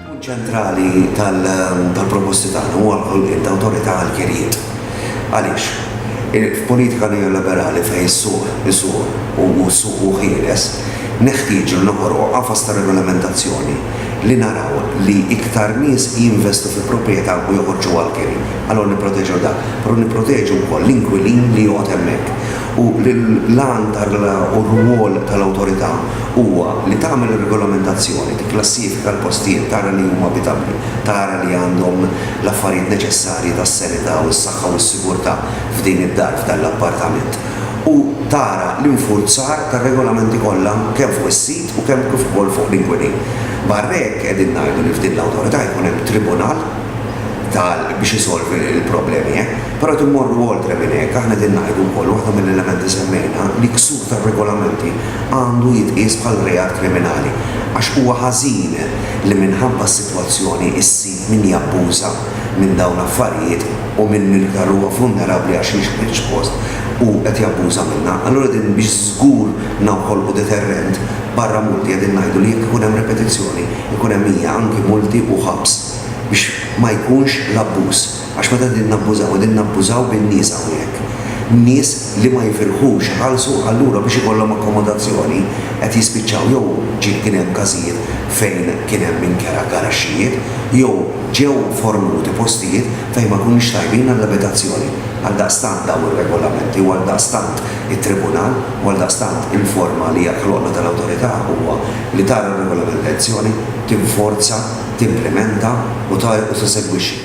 Punt ċentrali tal-proposti tagħna huwa l-ħolqien ta' awtorità għall-kirjiet. Għaliex? F'politika neoliberali fejn is-suq isuq u s-suq hu ħieles, neħtieġu li noħolqu qafas ta' regolamentazzjoni li naraw li iktar nies jinvestu fi proprjetà u joħorġuha għall-kiri. Allura nipproteġew dak, però nipproteġu wkoll l-inkwilin li joqgħod hemmhekk. u li l-għan u r-rwol tal-Awtorità huwa li tagħmel ir-regolamentazzjoni, tikklassifika l-postijiet, tara li huma abitabbli, tara li għandhom l-affarijiet neċessarji tas-sanità u s-saħħa u s-sigurtà f'din id-dar, f'dan l-appartament, u tara l-infurzar tar-regolamenti kollha kemm fuq is-sid u kemm kif ukoll fuq l-inkwilin. Barra hekk, qegħdin ngħidu li f'din l-Awtorità jkun hemm tribunal tal biex isolvi l-problemi hekk. Però qed immorru oltre minn hekk, aħna qegħdin ngħidu wkoll, waħda mill-elementi semmejna, li ksur tar-regolamenti għandu jitqies bħal reat kriminali, għax huwa ħażin li minħabba s-sitwazzjoni ssib min jabbuża minn dawn l-affarijiet u minn min iktar huwa vulnerabbli għax jgħix ħlief post u qed jabbuża minnha. Allura qegħdin biex żgur noħolqu deterrent, barra multi qegħdin ngħidu li jekk ikun hemm ripetizzjoni, ikun hemm hija anki multi u ħabs biex ma jkunx l-abbuż. Għax meta qegħdin nabbużaw, qegħdin nabbużaw bin-nies hawnhekk. Nies li ma jifirħux iħallsu allura biex ikollhom akkomodazzjoni qed jispiċċaw jew ġie kien hemm każijiet fejn kien hemm inkera garaxxijiet jew ġew fornuti postijiet fejn ma jkunux tajbin għall-abitazzjoni. Għaldaqstant dawn ir-regolamenti u għaldaqstant it-Tribunal u għaldaqstant il-forma li hija ħloqna tal-Awtorità huwa li tara r-regolamentazzjoni, tinforza, timplimenta u tissegwixxi.